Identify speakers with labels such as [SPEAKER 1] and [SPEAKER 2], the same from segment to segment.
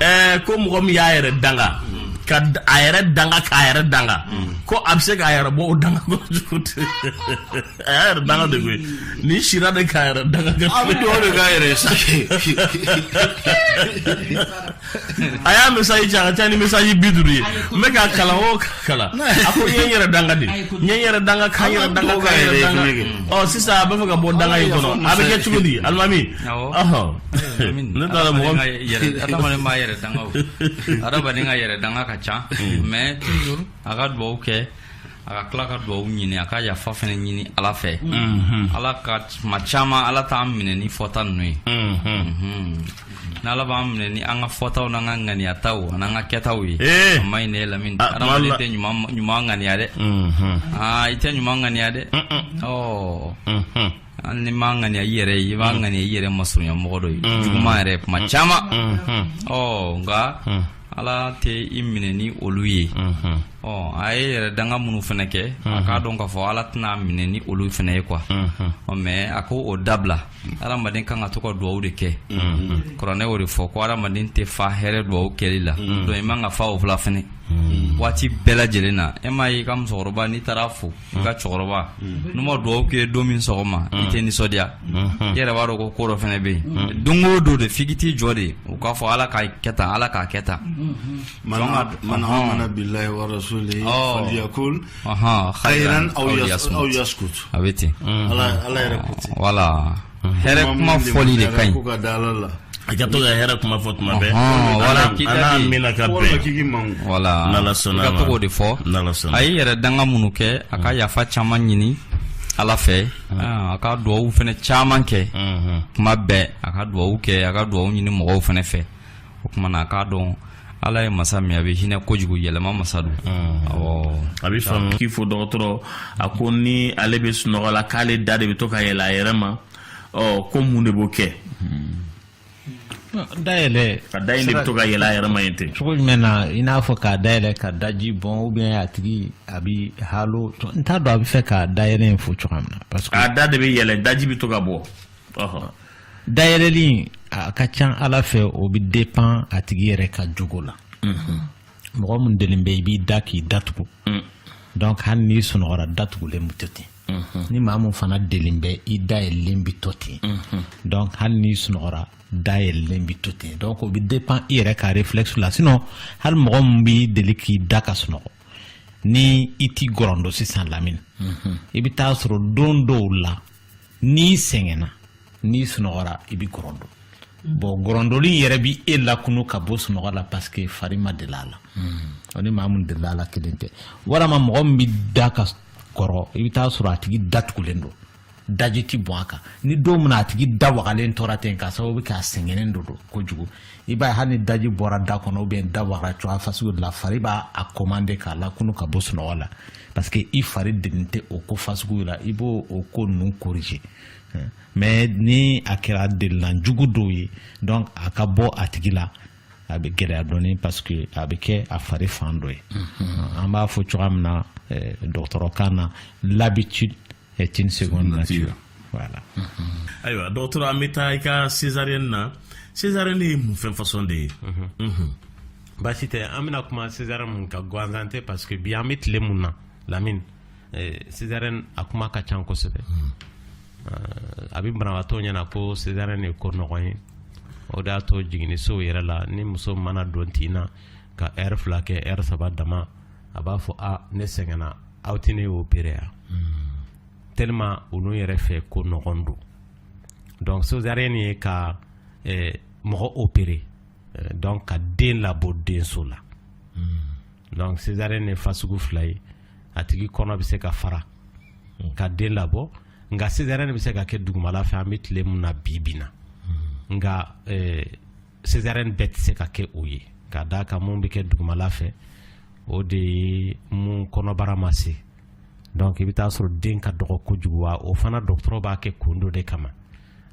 [SPEAKER 1] Eh, ko mɔgɔ min y'a yɛrɛ danga ka a yɛrɛ danga k'a yɛrɛ danga ko a bɛ se k'a yɛrɛ bɔ o danga kɔnɔ cogo di a y'a yɛrɛ danga de koyi ni sira de k'a yɛrɛ danga a bɛ dugawu de k'a yɛrɛ
[SPEAKER 2] sa
[SPEAKER 1] a y'a message ci a ka ca ni message bi duuru ye n bɛ k'a kalan o k'a kalan a ko n ye n yɛrɛ danga de n ye n yɛrɛ danga ka n yɛrɛ danga ka n yɛrɛ danga ɔ sisan a b'a fɛ ka bɔ danga in kɔnɔ a bɛ kɛ cogo di alimami ɔhɔn ne t'a dɔn mɔgɔ adamaden
[SPEAKER 3] b'a yɛrɛ danga o adamaden ka yɛrɛ danga ka ca mais toujours a ka dugawu kɛ a ka tila ka dugawu ɲini a ka yafa fɛnɛ ɲini ala fɛ ala ka tuma caman ala t'an minɛ ni fɔta ninnu ye ni ala b'an minɛ ni an ka fɔtaw n'an ka ŋaniyataw an'an ka kɛtaw ye a ma ɲi ne lamini adamaden tɛ ɲuman ŋaniya dɛ i tɛ ɲuman ŋaniya dɛ ɔ hali n'i m'a ŋaniya i yɛrɛ ye i b'a ŋaniya i yɛrɛ masurunya mɔgɔ dɔ ye juguman yɛrɛ kuma caman ɔ nka Ala tɛ i minɛ ni olu ye ɔ a ye yɛrɛ danga minnu fɛnɛ kɛ a k'a dɔn k'a fɔ ala tɛna minɛ ni olu fɛnɛ ye quoi mais a ko o dabila adamaden kan ka to ka dugawu de kɛ kuranɛ y'o de fɔ ko adamaden tɛ fa hɛrɛ dugawu kɛli la donc i man ka fa o fila fɛnɛ waati bɛɛ lajɛlen na e m'a y'i ka musokɔrɔba n'i taara a fo i ka cɛkɔrɔba n'u ma dugawu kɛ don min sɔgɔma i tɛ nisɔndiya i yɛrɛ b'a dɔn ko ko dɔ fɛnɛ bɛ yen don o don de f'i k'i t'i jɔ de u k'a fɔ Ala k'a kɛ tan Ala k'a kɛ
[SPEAKER 2] tan man amana billahi wa rasulihi falyakul khayran aw yasmut a bɛ ten
[SPEAKER 3] Ala yɛrɛ ko
[SPEAKER 2] ten voilà
[SPEAKER 3] hɛrɛ kuma fɔli de ka ɲi
[SPEAKER 2] a ka to ka
[SPEAKER 1] hɛrɛ kuma fɔ tuma bɛɛ a
[SPEAKER 3] n'amiina ka
[SPEAKER 1] bɛn voilà n'ala
[SPEAKER 3] sɔnna ma ka to k'o
[SPEAKER 1] de fɔ
[SPEAKER 3] n'ala sɔnna a ye yɛrɛ danga minnu kɛ a ka yafa caman ɲini ala fɛ a ka duwawu fɛnɛ caman kɛ kuma bɛɛ a ka duwawu kɛ a ka duwawu ɲini mɔgɔw fɛnɛ fɛ o kuma na a k'a dɔn ala ye masa min ye a bɛ hinɛ kojugu yɛlɛma masa don a
[SPEAKER 1] bɛ faamu k'i fo dɔgɔtɔrɔ a ko ni ale bɛ sunɔgɔ la k'ale da de bɛ to ka yɛlɛ a yɛrɛ ma ɔ ko mun de b'o kɛ
[SPEAKER 4] dayɛlɛ ka da in de bɛ to
[SPEAKER 1] ka yɛlɛ a yɛrɛ ma yen ten cogo jumɛn na i n'a
[SPEAKER 4] fɔ k'a dayɛlɛ ka daji bɔn ou bien a tigi a bi halo n t'a dɔn a bɛ fɛ k'a dayɛlɛ in fɔ cogoya min na parce que a da de bɛ yɛlɛ
[SPEAKER 1] daji bɛ to ka bɔ
[SPEAKER 4] dayɛlɛli a ka ca ala fɛ o bɛ dépend a tigi yɛrɛ ka jogo la mhm. mɔgɔ min delen bɛ i b'i da k'i datugu mm. donc hali n'i sunɔgɔra datugulen bɛ to ten mhm. ni maa min fana delen bɛ i da yɛlɛlen bɛ to ten mhm. donc hali n'i sunɔgɔra da yɛlɛlen bɛ to ten donc o bɛ dépend i yɛrɛ ka réflexe la sinon hali mɔgɔ min b'i deli k'i da ka sunɔgɔ ni i t'i gɔrɔndɔ sisan lamini i bɛ t'a sɔrɔ don dɔw la n'i sɛgɛnna n'i sunɔgɔra i bɛ gɔrɔndo mm. bon gɔrɔndoli yɛrɛ bɛ e lakunu ka bɔ sunɔgɔ la parce que fari ma deli a la mm. ni maa min deli a la kelen tɛ walama mɔgɔ min bɛ da ka kɔrɔ i bɛ taa sɔrɔ a tigi da tugulen don daji tɛ bɔn a kan ni don min a tigi da wagalen tora ten k'a sababu kɛ a sɛgɛnnen don kojugu i b'a ye hali ni daji bɔra da kɔnɔ ou bien da wagara cogoya fasugu de la fari b'a a commander k'a lakunu ka bɔ sunɔgɔ la parce que i fari delilen tɛ o ko fasugu la i b'o o ko ninnu corriger mais ni a kɛra delina jugu dɔ ye donc a ka bɔ a tigi la a bɛ gɛlɛya dɔɔni parce que a bɛ kɛ a fari fan dɔ ye an b'a fɔ cogoya min na dɔgɔtɔrɔkan na l'habitude est une seconde nature voilà
[SPEAKER 1] ayiwa dɔgɔtɔrɔ an bɛ taa i ka césarienne na césarienne ye mun fɛn façon de ye
[SPEAKER 4] baasi tɛ an bɛna kuma césarienne mun kan gansan tɛ parce que bi an bɛ tile mun na Lamini césarienne a kuma ka ca kosɛbɛ a bɛ banabagatɔ ɲɛna ko césarienne ye ko nɔgɔn ye o de y'a to jiginnisow yɛrɛ la ni muso mana don tin na ka heure fila kɛ heure saba dama a b'a fɔ a ne sɛgɛnna aw tɛ ne opérer ya tellement olu yɛrɛ fɛ ko nɔgɔn don donc césarienne ye ka mɔgɔ opérer donc ka den labɔ denso la donc césarienne ye fasugu fila ye a tigi kɔnɔ bɛ se ka fara ka den labɔ nka césarienne bɛ se ka kɛ dugumala fɛ an bɛ tile min na bi bi na nka césarienne bɛɛ tɛ se ka kɛ o ye ka d'a kan mun bɛ kɛ dugumala fɛ o de ye mun kɔnɔbara ma se donc i bɛ taa sɔrɔ den ka dɔgɔ kojugu wa o fana dɔgɔtɔrɔ b'a kɛ kun dɔ de kama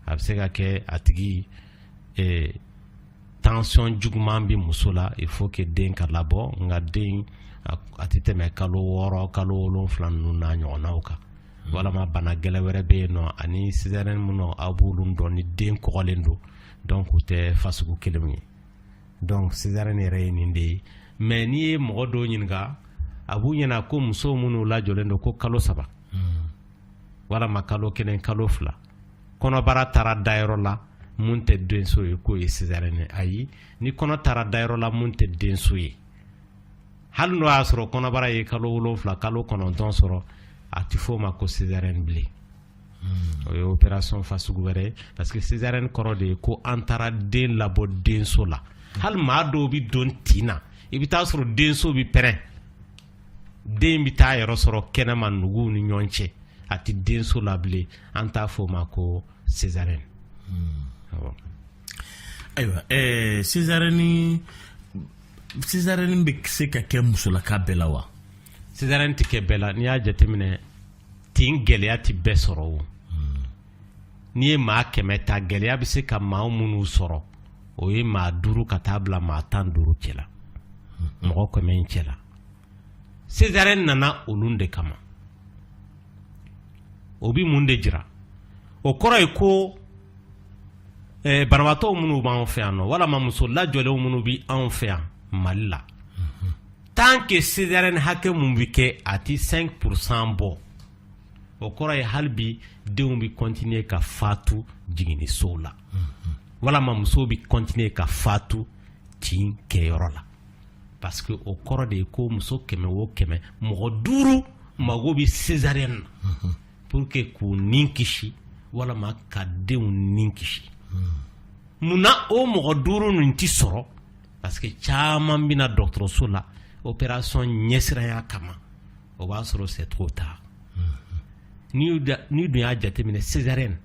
[SPEAKER 4] a bɛ se ka kɛ a tigi eh, tension juguman bɛ muso la il faut que den ka labɔ nka den a tɛ tɛmɛ kalo wɔɔrɔ kalo wolonwula ninnu n'a ɲɔgɔnnaw kan walama bana gɛlɛn wɛrɛ bɛ yen nɔ ani césarienne minnu aw b'olu dɔn ni den kɔgɔlen don donc u tɛ fasugu kelen ye donc césarienne yɛrɛ ye nin de ye mais n'i ye mɔgɔ dɔw ɲininka a b'u ɲɛna ko muso minnu lajɔlen don ko kalo saba hmm. walama kalo kelen kalo fila kɔnɔbara taara dayɔrɔ la mun tɛ denso ye k'o ye césarienne ye ayi ni kɔnɔ taara dayɔrɔ la mun tɛ denso ye hali n'o y'a sɔrɔ kɔnɔbara ye kalo wolonwula kalo kɔnɔntɔn sɔrɔ a tɛ f'o ma ko césarienne bilen o ye opération fasugu wɛrɛ ye parce que césarienne kɔrɔ de ye ko an taara den labɔ denso la hali maa dɔw bɛ don tin na i bɛ taa sɔrɔ denso bɛ pɛrɛn den bɛ taa yɔrɔ sɔrɔ kɛnɛma nugu ni ɲɔgɔn cɛ a tɛ denso la bilen an t'a fɔ o ma ko
[SPEAKER 1] césarienne ayiwa césarienne nin césarienne bɛ se ka kɛ musolaka bɛɛ la wa césarienne tɛ
[SPEAKER 4] kɛ bɛɛ la n'i y'a jateminɛ tin gɛlɛya tɛ bɛɛ sɔrɔ o n'i ye maa kɛmɛ ta gɛlɛya bɛ se ka maa minnu sɔrɔ o ye maa duuru ka taa bila maa tan duuru cɛ la mɔgɔ kɛmɛ in cɛ la césarienne nana olu de kama o bɛ mun de jira o kɔrɔ ye ko eh, banabaatɔ minnu b'anw fɛ yan nɔ walima muso lajɔlenw minnu bɛ anw fɛ yan mali la tant que césarienne hakɛ mun bɛ kɛ a tɛ cinq pour cent bɔ o kɔrɔ ye hali bi denw bɛ continuer ka fatu jiginnisow la walima muso bɛ continuer ka fatu tin kɛyɔrɔ la parce que o kɔrɔ de ye ko muso kɛmɛ o kɛmɛ mɔgɔ duuru mago bɛ césarienne na pour que k'u ni kisi walima ka denw ni kisi mun na o mɔgɔ duuru nin tɛ sɔrɔ parce que caman bɛ na dɔgɔtɔrɔso la opération ɲɛsiranya kama o b'a sɔrɔ c'est trop tard n'i dun y'a jateminɛ césarienne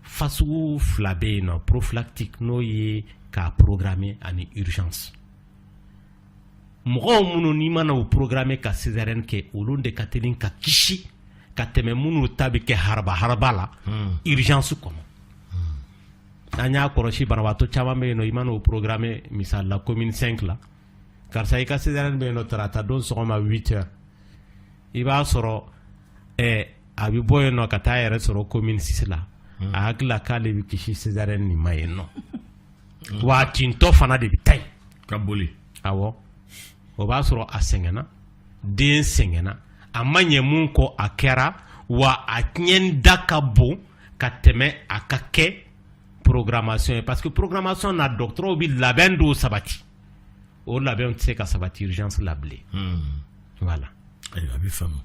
[SPEAKER 4] fasugu fila bɛ yen nɔ prophylactique n'o ye k'a programmer ani urgence mɔgɔw minnu n'i mana u programmer ka césarienne kɛ olu de ka teli ka kisi ka tɛmɛ minnu ta bɛ kɛ haraba haraba la hmm. urgence kɔnɔ an y'a kɔlɔsi banabaatɔ caman bɛ yen nɔ i man'o programmer misali la commune 5 la karisa i ka césarienne bɛ yen nɔ tarata don sɔgɔma 8 heures i b'a sɔrɔ eh, a bɛ bɔ yen nɔ ka taa a yɛrɛ sɔrɔ commune 6 la a hakili la k'ale bɛ kisi césarienne nin ma yen nɔ wa a tintɔ fana de bɛ taa yen ka
[SPEAKER 1] boli
[SPEAKER 4] awɔ o b'a sɔrɔ a sɛgɛnna den sɛgɛnna a ma ɲɛ mun kɔ a kɛra wa a tiɲɛ da ka bon ka tɛmɛ a ka kɛ programmation ye parce que programmation na dɔgɔtɔrɔw bɛ labɛn dɔw sabati o labɛn tɛ se ka sabati urgence la bilen voilà ayiwa a
[SPEAKER 1] bɛ faamu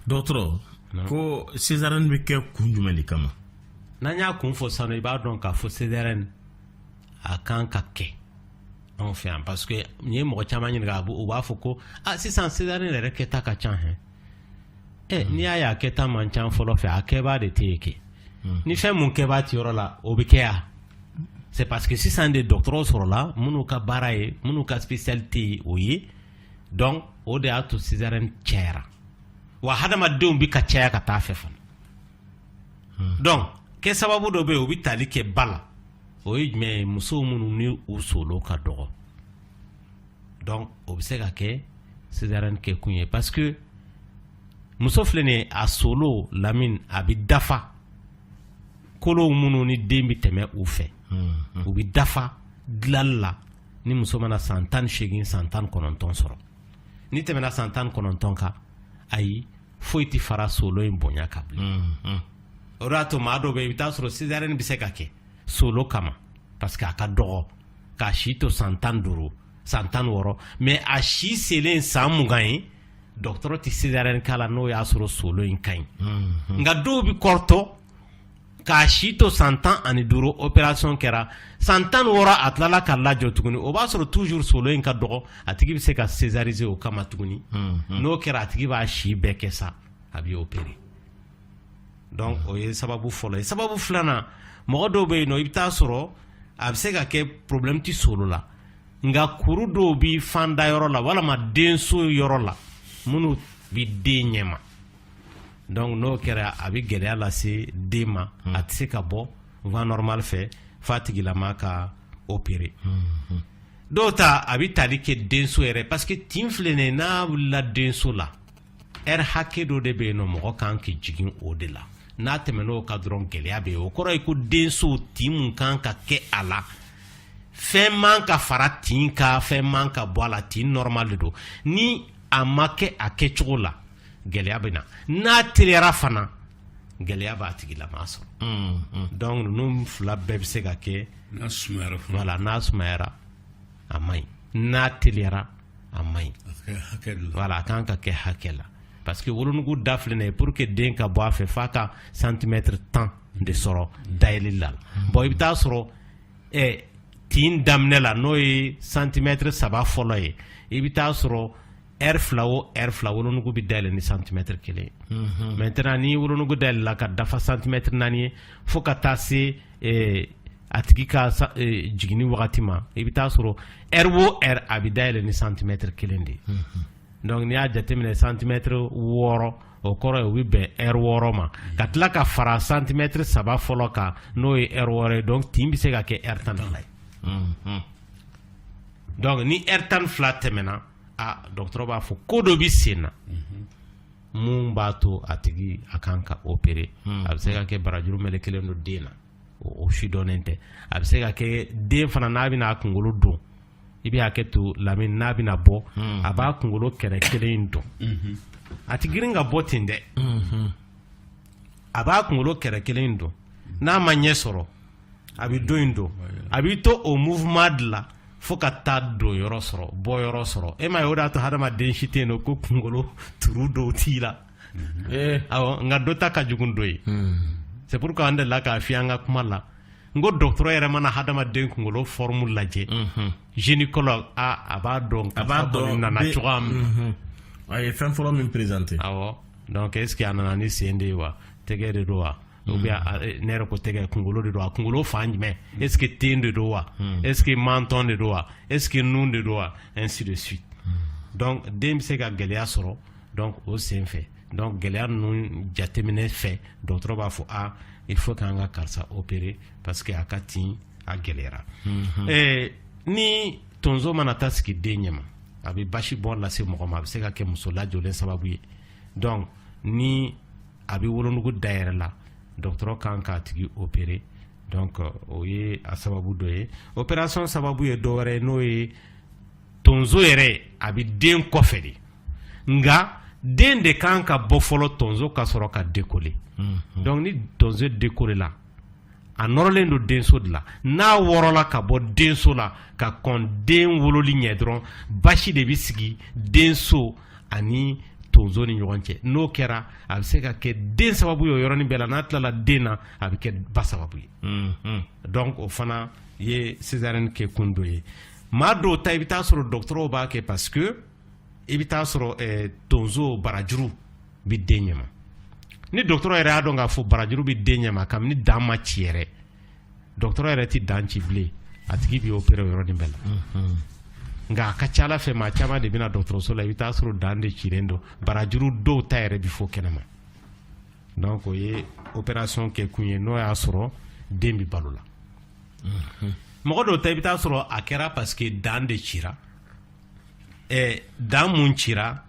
[SPEAKER 1] dɔgɔtɔrɔ ko césarienne bɛ kɛ kun jumɛn de kama n'an y'a kun
[SPEAKER 4] fɔ sisan i b'a dɔn k'a fɔ césarienne a kan ka kɛ Anw fɛ yan parce que n'i ye mɔgɔ caman ɲininka a u b'a fɔ ko a sisan césarienne yɛrɛ kɛta ka ca hein ɛ n'i y'a ye a kɛta man ca fɔlɔ fɛ a kɛbaa de tɛ yen kɛ ni fɛn mun kɛbaa tɛ yɔrɔ la o bɛ kɛ yan c'est parce que sisan de dɔgɔtɔrɔw sɔrɔla minnu ka baara ye minnu ka spécialité ye o ye donc o de y'a to césarienne cayara wa hadamadenw bɛ ka caya ka taa fɛ fana donc kɛ sababu dɔ bɛ yen o bɛ tali kɛ ba la o ye jumɛn ye musow minnu ni u solo ka dɔgɔ donc o bɛ se ka kɛ césarienne kɛ kun ye parce que muso filɛ nin a solo lamini a bɛ dafa kolow minnu ni den bɛ tɛmɛ u fɛ hmm. u bɛ dafa dilali la ni muso mana san tan ni seegin san tan kɔnɔntɔn sɔrɔ ni tɛmɛna san tan kɔnɔntɔn kan ayi foyi tɛ fara solo in bonya kan bilen mm, mm. o de y'a to maa dɔw bɛ i bɛ taa sɔrɔ césarienne bɛ se ka kɛ solo kama parce que a ka dɔgɔ k'a si to san tan duuru san tan wɔɔrɔ mais a si selen san mugan ye dɔgɔtɔrɔ tɛ césarienne k'a la n'o y'a sɔrɔ solo in ka ɲi mm, nka dɔw bɛ kɔrɔtɔ k'a si to san tan ani duuru opération kɛra san tan wɔɔrɔ a tilala ka lajɔ tuguni o b'a sɔrɔ toujours solo in ka dɔgɔ a tigi bɛ se ka césariser o kama tuguni n'o kɛra a tigi b'a si bɛɛ kɛ sa a bɛ opérer donc o ye sababu fɔlɔ ye sababu filanan mɔgɔ dɔw bɛ yen i bɛ taa sɔrɔ a bɛ se ka kɛ problème tɛ solo la nka kuru dɔw bɛ fanda yɔrɔ la walama denso yɔrɔ la minnu bɛ den ɲɛma donc n'o kɛra a bɛ gɛlɛya lase den ma hmm. a tɛ se ka bɔ voie normale fɛ f'a tigilama ka opérer hmm. dɔw ta a bɛ tali kɛ denso yɛrɛ parce que tin filɛ nin ye n'a wulila denso la heure hakɛ dɔ de bɛ yen nɔ mɔgɔ kan k'i jigin o de la n'a tɛmɛn'o kan dɔrɔn gɛlɛya bɛ yen o kɔrɔ ye ko denso tin mun kan ka kɛ a la fɛn man ka fara tin kan fɛn man ka bɔ a la tin normal de don ni a ma kɛ a kɛcogo la gɛlɛya bɛ na n'a teliyara fana gɛlɛya b'a tigilama sɔrɔ mm, mm. donc ninnu fila bɛɛ bɛ se ka kɛ n'a sumayara
[SPEAKER 2] voilà n'a sumayara
[SPEAKER 4] a man ɲi n'a teliyara a man ɲi voilà a kan ka kɛ hakɛ la parce que wolonugu da filɛ nin ye pour que den ka bɔ a fɛ f'a ka santimɛtiri tan de sɔrɔ mm. dayɛlɛli la bon i bɛ taa sɔrɔ eh, tin daminɛ la n'o ye santimɛtiri saba fɔlɔ ye i bɛ taa sɔrɔ heure fila o heure fila wolonugu bɛ dayɛlɛ ni santimɛtiri kelen maintenant ni wolonugu dayɛlɛla ka dafa santimɛtiri naani ye fo ka taa se a tigi ka jiginni wagati ma i bɛ taa sɔrɔ heure o heure a bɛ dayɛlɛ ni santimɛtiri kelen de ye donc n'i y'a jateminɛ santimɛtiri wɔɔrɔ o kɔrɔ ye o bɛ bɛn heure wɔɔrɔ ma ka tila ka fara santimɛtiri saba fɔlɔ kan n'o ye heure wɔɔrɔ ye donc tin bɛ se ka kɛ heure tan ni fila ye donc ni heure tan ni fila tɛmɛna aa dɔgɔtɔrɔ b'a fɔ ko dɔ bɛ sen na mun b'a to a tigi a kan ka opérer hmm. a bɛ se ka kɛ barajuru melekelen don den na o si dɔnnen tɛ a bɛ se ka kɛ den fana n'a bɛna a kunkolo don i bɛ hakɛ to Lamini n'a bɛna bɔ hmm. a b'a kunkolo kɛrɛ kelen in don hmm. a ti girin ka bɔ ten dɛ a b'a kunkolo kɛrɛ kelen in don n'a ma ɲɛ sɔrɔ a bɛ don in don a b'i to o mouvement de la fo ka taa don yɔrɔ sɔrɔ bɔ yɔrɔ sɔrɔ e ma ye o de y'a to hadamaden si tɛ yen nɔ ko kunkolo turu dɔw t'i la eh. awɔ nka dɔ ta ka jugu dɔ ye hmm. c'est pourquoi an delila k'a f'i ye an ka kuma la n ko dɔgɔtɔrɔ yɛrɛ mana hadamaden kunkolo forme lajɛ mhm. gynécologue a a b'a dɔn a b'a dɔn nana cogoya min mhm. a ye fɛn
[SPEAKER 1] fɔlɔ min présenter awɔ donc
[SPEAKER 4] est ce que a nana ni sen de ye wa tɛgɛ de don wa ou bien ne yɛrɛ ko tɛgɛ kunkolo de don wa kunkolo fan jumɛn est ce que ten de don wa est ce que menton de don wa est ce que nun de don wa ainsi de suite donc den bɛ se ka gɛlɛya sɔrɔ donc o sen fɛ donc gɛlɛya ninnu jateminɛ fɛ dɔgɔtɔrɔ b'a fɔ aa il faut k'an ka karisa opérer parce que a ka tin a gɛlɛyara ni tonso mana taa sigi den ɲɛma a bɛ basi bɔn lase mɔgɔ ma a bɛ se ka kɛ muso lajɔlen sababu ye donc ni a bɛ wolonugu da yɛrɛ la dɔgɔtɔrɔ kan k'a tigi opérer donc o ye a sababu dɔ ye opération sababu ye dɔ wɛrɛ ye n'o ye tonso yɛrɛ a bɛ den kɔfɛ de nka den de kan ka bɔ fɔlɔ tonso ka sɔrɔ ka décoller mhm. donc ni tonso décoller la a nɔrɔlen don denso de la n'a wɔrɔla ka bɔ denso la ka kɔn den wololi ɲɛ dɔrɔn basi de bɛ sigi denso ani tonso ni ɲɔgɔn cɛ n'o kɛra a bɛ se ka kɛ den sababu ye o yɔrɔnin bɛɛ la n'a tilala den na a bɛ kɛ ba sababu ye mm-hmm. donc o fana ye césarienne kɛ kun dɔ ye maa dɔw ta i bɛ taa sɔrɔ dɔgɔtɔrɔw b'a kɛ parce que i bɛ taa sɔrɔ eh, tonso barajuru bɛ den ɲɛma ni dɔgɔtɔrɔ yɛrɛ y'a dɔn k'a fɔ barajuru bɛ den ɲɛma kabini dan ma ci yɛrɛ dɔgɔtɔrɔ yɛrɛ tɛ dan ci bilen a tigi bɛ opéré o yɔrɔnin bɛɛ la nka a ka ca a la fɛ maa caman de bɛ na dɔgɔtɔrɔso la i bɛ taa sɔrɔ dan de cilen don barajuru dɔw ta yɛrɛ bɛ fɔ kɛnɛma donc o ye opération kɛ kun ye n'o y'a sɔrɔ den bɛ balo la mɔgɔ dɔw ta i bɛ taa sɔrɔ a kɛra parce que dan de cira ɛɛ dan mun cira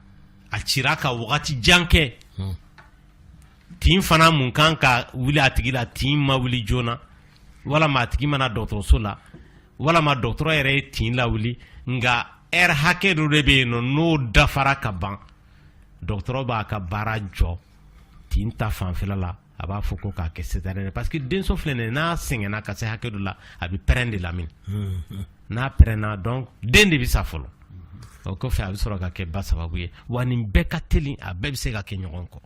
[SPEAKER 4] a cira ka wagati jan kɛ tin fana mun kan ka wuli a tigi la tin ma wuli joona walama a tigi ma na dɔgɔtɔrɔso la walama dɔgɔtɔrɔ yɛrɛ ye tin lawuli nka heure hakɛ dɔ de bɛ yen nɔ n'o dafara ka ban dɔgɔtɔrɔ b'a ka baara jɔ tin ta fanfɛla la a b'a fɔ ko k'a kɛ césarienne parce que denso filɛ nin ye n'a sɛgɛnna ka se hakɛ dɔ la a bɛ pɛrɛn de lamini n'a pɛrɛnna donc den de bɛ sa fɔlɔ o kɔfɛ a bɛ sɔrɔ ka kɛ ba sababu ye wa nin bɛɛ ka teli a bɛɛ bɛ se ka kɛ ɲɔgɔn kɔ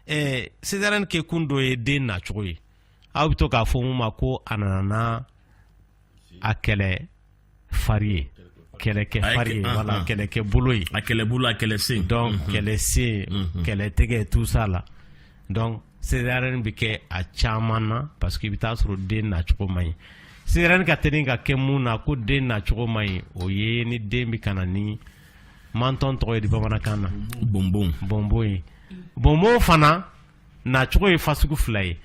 [SPEAKER 4] ɛɛ césarienne kɛ kun dɔ ye den nacogo ye aw bɛ to k'a fɔ mun ma ko a nana a kɛlɛ fari ye kɛlɛkɛ fari ye wala kɛlɛkɛ bolo ye a kɛlɛ bolo a kɛlɛ
[SPEAKER 1] sen donc mhm. kɛlɛ sen
[SPEAKER 4] mhm. kɛlɛ tɛgɛ tout ça la donc césarienne bɛ kɛ a caman na parce que i bɛ taa sɔrɔ den nacogo man ɲi césarienne ka teli ka kɛ mun na ko den nacogo man ɲi o ye ni den bɛ ka na ni Menton tɔgɔ ye di bamanankan na bonbon ye bonbon fana nacogo ye fasugu fila ye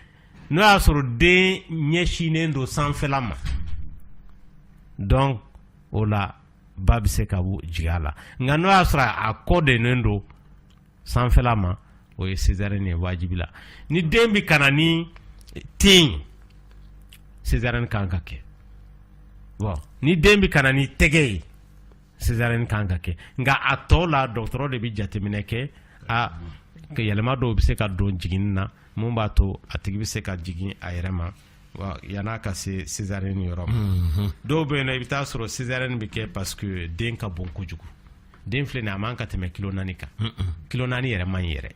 [SPEAKER 4] n'o y'a sɔrɔ den ɲɛsinnen don sanfɛla ma donc o la ba bɛ se ka jigin a la nka n'o y'a sɔrɔ a kɔ donnen don sanfɛla ma o ye césarienne ye wajibi la ni den bɛ ka na ni ten césarienne kan ka kɛ ni den bɛ ka na ni tɛgɛ ye Césarienne kan ka kɛ nka a tɔ la dɔgɔtɔrɔ de bɛ jateminɛ kɛ a yɛlɛma dɔw bɛ se ka don jiginni na mun b'a to a tigi bɛ se ka jigin a yɛrɛ ma yan'a ka se Césarienne yɔrɔ ma, unhun, dɔw bɛ yen nɔ i bɛ taa sɔrɔ Césarienne bɛ kɛ parce que den ka bon kojugu den filɛ nin ye a man ka tɛmɛ kilo naani kan kilo naani yɛrɛ man ɲi yɛrɛ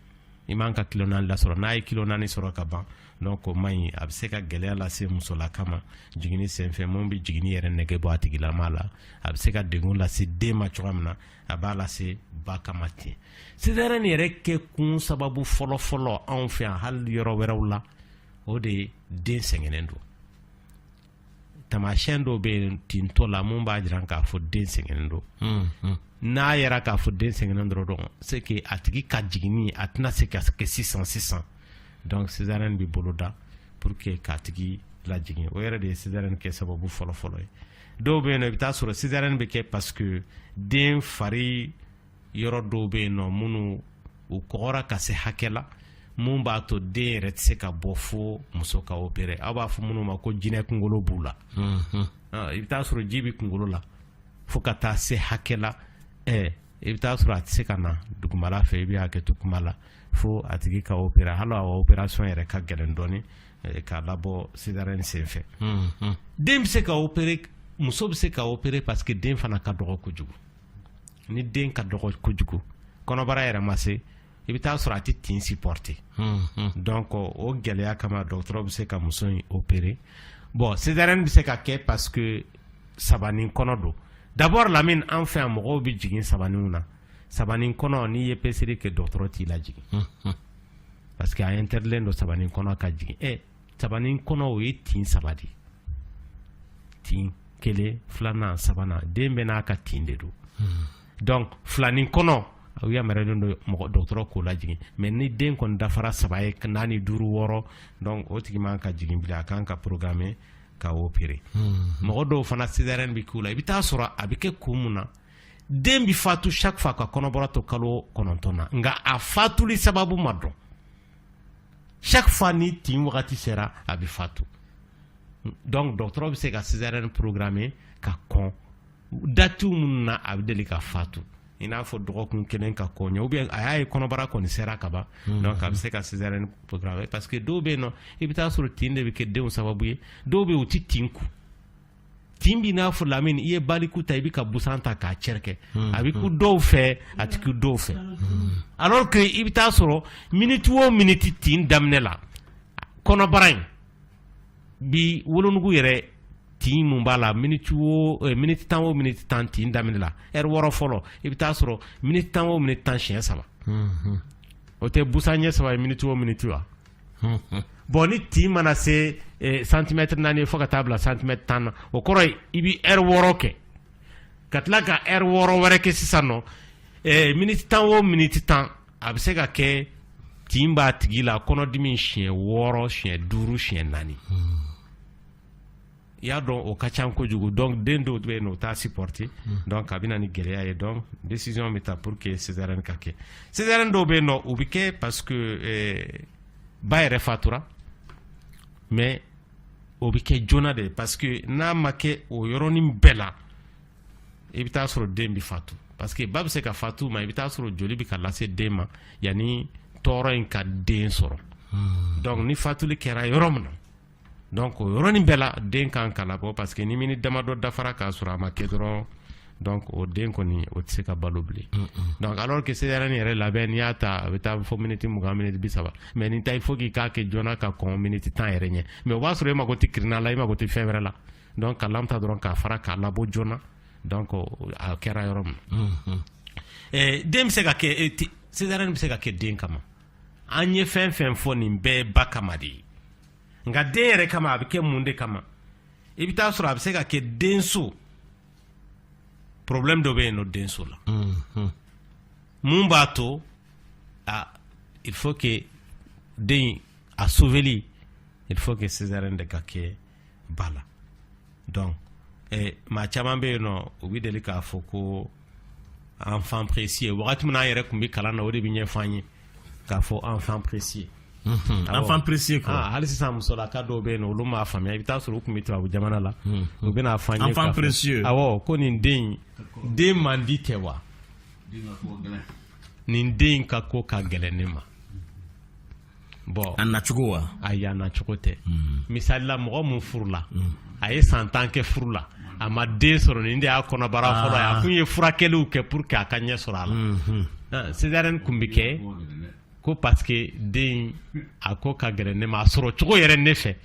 [SPEAKER 4] i man ka kilo naani lasɔrɔ n'a ye kilo naani sɔrɔ ka ban donc o man ɲi a bɛ se ka gɛlɛya lase musolaka ma jiginni senfɛ mun bɛ jiginni yɛrɛ nege bɔ a tigilama la a bɛ se ka degun lase den ma cogoya min na a b'a lase ba kama ten césarienne yɛrɛ kɛ kun sababu fɔlɔfɔlɔ anw fɛ yan hali yɔrɔ wɛrɛw la o de ye den sɛgɛnnen don tamasiyɛn dɔw bɛ yen tintɔ la mun b'a jira k'a fɔ den sɛgɛnnen don hmm, hmm. n'a yera k'a fɔ den sɛgɛnnen dɔrɔn donc c'est que a tigi ka jiginni a tɛna se ka kɛ sisan sisan donc césarienne bɛ boloda pour que k'a tigi lajigin o yɛrɛ de ye césarienne kɛ sababu fɔlɔfɔlɔ ye dɔw bɛ yen nɔ i bɛ taa sɔrɔ césarienne bɛ kɛ parce que den fari yɔrɔ dɔw bɛ yen nɔ minnu u kɔgɔra ka se hakɛ la mun b'a to den yɛrɛ tɛ se ka bɔ fo muso ka opérer aw b'a fɔ minnu ma ko jinɛ kunkolo b'u la ah, i bɛ taa sɔrɔ ji bɛ kunkolo la fo ka taa se hakɛ la eh, i bɛ taa sɔrɔ a tɛ se ka na dugumala fɛ i bɛ hakɛto kuma la fo a tigi ka opérer hali a opération yɛrɛ ka gɛlɛn dɔɔni eh, k'a labɔ césarienne senfɛ den bɛ se ka opérer muso bɛ se ka opérer parce que den fana ka dɔgɔ kojugu ni den ka dɔgɔ kojugu kɔnɔbara yɛrɛ ma se i bɛ taa sɔrɔ a tɛ tin supporter donc o gɛlɛya kama dɔgɔtɔrɔ bɛ se ka muso in opérer bon césarienne bɛ se ka kɛ parce que sabanin kɔnɔ don d'abord Lamini an fɛ yan mɔgɔw bɛ jigin sabaninw na sabanin kɔnɔ n'i ye peseli kɛ dɔgɔtɔrɔ t'i lajigin parce que a interdit len don sabanin kɔnɔ ka jigin e nin kɔnɔ o ye tin saba de tin kelen fila saba den bɛɛ n'a ka tin de don hmm. donc filanin kɔnɔ a yamaruyalen don mɔgɔ dɔgɔtɔrɔ k'o lajigin mais ni den kɔni dafara saba ye naani duuru wɔɔrɔ dɔn o tigi man ka jigin bilen a kan ka programmer ka opérer hmm. mɔgɔ dɔw fana césarienne bɛ k'u la i bɛ taa sɔrɔ a bɛ kɛ kun mun na den bɛ fatu chaque fois ka kɔnɔbara to kalo kɔnɔntɔn na nka a fatuli sababu ma dɔn chaque fois ni tin wagati sera a bɛ fatu donc dɔgɔtɔrɔ bɛ se ka césarienne programmer ka kɔn dati minnu na a bɛ deli ka fatu i n'a fɔ dɔgɔkun kelen ka kɔn ɲɛ ou bien a y'a ye kɔnɔbara kɔni sera ka ban donc a bɛ se ka césarienne programmer parce que dɔw bɛ yen nɔ i bɛ taa sɔrɔ tin de bɛ kɛ denw sababu ye dɔw bɛ yen u tɛ tin kun tin b'i n'a fɔ lamini i ye baliku ta i bɛ ka busan ta k'a cɛrɛkɛ hmm, a bɛ kun hmm. dɔw fɛ a tɛ kun dɔw fɛ hmm. alors que i bɛ taa sɔrɔ miniti o miniti tin daminɛ la kɔnɔbara in bi wolonugu yɛrɛ tin mun b'a la miniti o eh, miniti tan o miniti tan tin daminɛ la ɛri wɔɔrɔ fɔlɔ i bɛ taa sɔrɔ miniti tan o miniti tan siɲɛ saba o tɛ busan ɲɛ saba ye miniti o miniti wa bɔn ni tin mana se eh, santimɛtiri naani fo ka taa bila santimɛtiri tan na o kɔrɔ ye i bɛ ɛri wɔɔrɔ kɛ ka tila ka ɛri wɔɔrɔ wɛrɛ kɛ sisan nɔ eh, miniti tan o miniti tan a bɛ se ka kɛ tin b'a tigi la kɔnɔdimi siɲɛ wɔɔrɔ siɲɛ duuru siɲɛ naani. Hmm. i y'a dɔn o ka ca kojugu donc den dɔw bɛ yen o t'a supporter donc a bɛ na ni gɛlɛya ye donc décision bɛ ta pour que césarienne ka kɛ césarienne dɔw bɛ yen nɔ o bɛ kɛ parce que eh, ba yɛrɛ fatura mais o bɛ kɛ joona de parce que n'a ma kɛ o yɔrɔnin bɛɛ la i bɛ taa sɔrɔ den bɛ fatu parce que ba bɛ se ka fatu mais i bɛ taa sɔrɔ joli bɛ ka lase den ma yanni tɔɔrɔ in ka den sɔrɔ hmm. donc ni fatuli kɛra yɔrɔ min na donc o yɔrɔnin bɛɛ la den kan ka labɔ parce que ni miniti damadɔ dafara k'a sɔrɔ a ma kɛ dɔrɔn donc o den kɔni o tɛ se ka balo bilen donc alors que césarienne yɛrɛ labɛn n'i y'a ta a bɛ taa fo miniti mugan miniti bi saba mais nin ta il faut k'i k'a kɛ joona ka kɔn miniti tan yɛrɛ ɲɛ mais o b'a sɔrɔ e mago tɛ kirina la e mago tɛ fɛn wɛrɛ la donc ka lame ta dɔrɔn k'a fara k'a labɔ joona donc a kɛra yɔrɔ min na den bɛ se ka kɛ césarienne bɛ se ka kɛ den kama an ye fɛn fɛn fɔ nin bɛɛ ba kama de ye nka den yɛrɛ kama a bɛ kɛ mun de kama i bɛ taa sɔrɔ a bɛ se ka kɛ denso problème dɔ bɛ yen nɔ denso la mhm. mun b'a to a il faut que den a sauveli il faut que césarienne de ka kɛ ba la donc eh, maa caman bɛ yen nɔ u bɛ deli k'a fɔ ko enfant précieux wagati min na an yɛrɛ tun bɛ kalan na o de bɛ ɲɛfɔ an ye k'a fɔ enfant précieux
[SPEAKER 1] Mhm. enfant précieux quoi ah, hali sisan musolaka
[SPEAKER 4] dɔw bɛ yen nɔ olu m'a faamuya i bɛ taa sɔrɔ u tun bɛ tubabu jamana la mhm. u bɛna a fɔ an ye enfant précieux awɔ
[SPEAKER 1] ko nin den in
[SPEAKER 4] den man di tɛ wa nin den in ka ko ka gɛlɛn ne ma bɔn a nacogo
[SPEAKER 1] wa ayi a nacogo
[SPEAKER 4] tɛ hmm. misalila mɔgɔ min furula hmm. a ye san tan kɛ furu la a ma den sɔrɔ nin de y'a kɔnɔbara fɔlɔ ye a ah. kun ye furakɛliw kɛ pour que a ka ɲɛ sɔrɔ a la hmm, ah, césarienne kun bɛ kɛ ko parce que den a ko ka gɛlɛn ne ma a sɔrɔ cogo yɛrɛ ne fɛ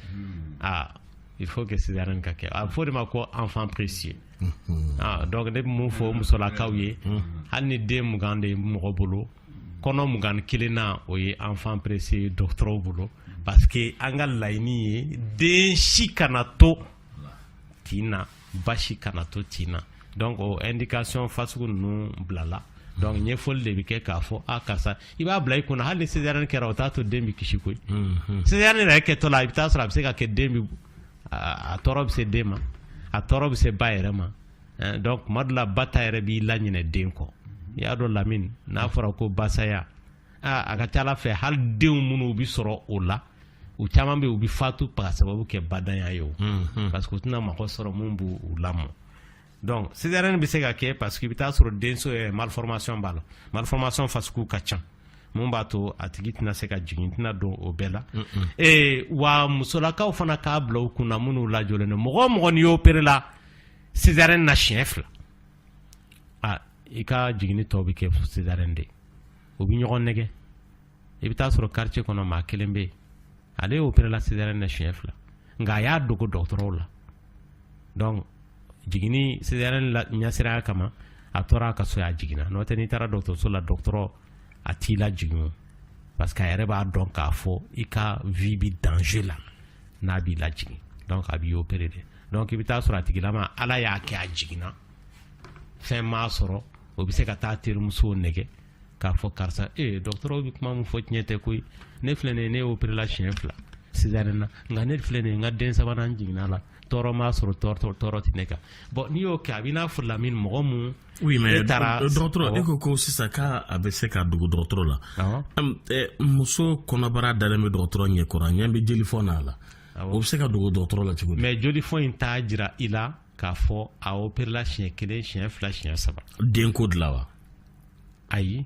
[SPEAKER 4] ah, il faut que césarienne ka kɛ a bɛ fɔ de ma ko enfant précieux donc ne bɛ mun fɔ musolakaw ye hali ni den mugan de ye mɔgɔ bolo kɔnɔ mugan ni kelen na o ye enfant précieux ye dɔgɔtɔrɔw bolo parce que an ka laɲini ye den si kana to tin na ba si kana to tin na donc o indication fasugu ninnu bilala donc ɲɛfɔli de bɛ kɛ k'a fɔ a karisa i b'a bila i kunna hali ni césarienne kɛra o t'a to den bɛ kisi koyi césarienne yɛrɛ kɛtɔ la i bɛ taa sɔrɔ a bɛ se ka kɛ den bɛ a tɔɔrɔ bɛ se den ma a tɔɔrɔ bɛ se ba yɛrɛ ma eh, donc tuma dɔ la ba ta yɛrɛ b'i laɲinɛ den kɔ i y'a dɔn lamini n'a fɔra ko ba saya aa a ka ca ala fɛ hali denw minnu bɛ sɔrɔ o la u caman bɛ u bɛ fatu ka sababu kɛ badanya ye o mm-hmm. parce que u tɛna mɔgɔ sɔrɔ mun b'u u lamɔ donc césarienne bɛ se ka kɛ parce que i bɛ taa sɔrɔ denso eh, malformation b'a la malformation fasugu ka ca mun b'a to a tigi tɛna se ka jigin tɛna don o bɛɛ la ee wa musolakaw fana k'a bila u kunna minnu lajɔlen don mɔgɔ o mɔgɔ n'i y'opéré la césarienne na siɲɛ fila i ka jiginni tɔw bɛ kɛ césarienne de u bɛ ɲɔgɔn nɛgɛ i bɛ taa sɔrɔ quartier kɔnɔ maa kelen bɛ yen ale y'opéré la césarienne na siɲɛ fila nka a y'a dogo dɔgɔtɔrɔw la donc jiginni césarienne ɲɛsiranya kama a tora a ka so y'a jiginna n'o tɛ n'i taara dɔgɔtɔrɔso la dɔgɔtɔrɔ a t'i lajigin parce que a yɛrɛ b'a dɔn k'a fɔ i ka vie bɛ danger la n'a b'i lajigin donc a b'i opéré de donc i bɛ taa sɔrɔ a tigilama ala y'a kɛ a jiginna fɛn m'a sɔrɔ o bɛ se ka taa terimusow nɛgɛ k'a fɔ karisa ee dɔgɔtɔrɔw bɛ kuma min fɔ tiɲɛ tɛ koyi ne filɛ nin ye ne y'opéré la siɲɛ fila césarienne na nka ne filɛ nin ye n ka den sabanan jiginna la tɔɔrɔ m'a sɔrɔ tɔɔrɔ tɔɔrɔ tɛ ne kan bɔn n'i y'o kɛ a b'i n'a fɔ lamini mɔgɔ mun oui
[SPEAKER 1] mais dɔgɔtɔrɔ e ko ko sisan k'a bɛ se ka dogo dɔgɔtɔrɔ la muso kɔnɔbara dalen bɛ dɔgɔtɔrɔ ɲɛkɔrɔ a ɲɛ bɛ jelifɔn n'a la O bɛ se ka dogo dɔgɔtɔrɔ la cogo di mais jolifɔn in
[SPEAKER 4] t'a jira i la k'a fɔ a opérela siɲɛ kelen siɲɛ fila siɲɛ saba denko de la wa
[SPEAKER 1] ayi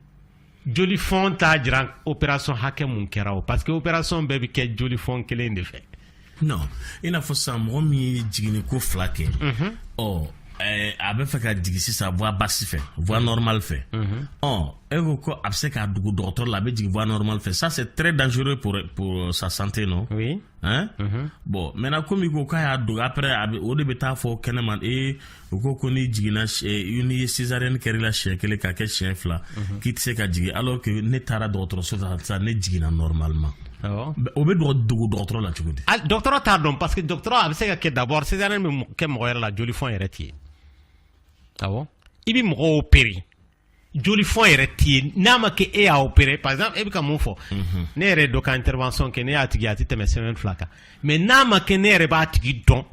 [SPEAKER 4] jolifɔn t'a jira opération hakɛ mun kɛra o parce que opération bɛɛ bɛ kɛ jolifɔn kelen de fɛ non i
[SPEAKER 1] n'a fɔ san mɔgɔ min ye jiginni ko fila kɛ ɔ Eh, a bɛ fɛ ka jigin sisan voie basse fɛ voie mhm. normale fɛ mhm. ɔ e ko ko a bɛ se k'a dogo dɔgɔtɔrɔ la a bɛ jigin voie normale fɛ ça c'est très dangereux pour pour sa santé non oui hein mhm.
[SPEAKER 4] bon
[SPEAKER 1] maintenant komi ko k'a y'a dogo après a bɛ o de bɛ taa fɔ kɛnɛma ee u ko ko n'i jiginna eh, n'i ye césarienne kɛr'i la siɲɛ kelen k'a kɛ siɲɛ fila k'i tɛ se ka jigin alors que ne taara dɔgɔtɔrɔso la sisan ne jiginna normalement O bɛ dogo dɔgɔtɔrɔ la cogo di dɔgɔtɔrɔ t'a dɔn parce
[SPEAKER 4] que dɔgɔtɔrɔ a bɛ se ka kɛ d'abord césarienne bɛ kɛ mɔgɔ yɛrɛ la jolifɔn yɛrɛ tɛ yen i bɛ mɔgɔ opere jolifɔn yɛrɛ tɛ yen n'a ma kɛ e y'a opere par exemple e bɛ ka mun fɔ mhm. ne yɛrɛ dɔ ka intervention kɛ ne y'a tigi a tɛ tɛmɛ semaine fila kan mais n'a ma kɛ ne yɛrɛ b'a tigi dɔn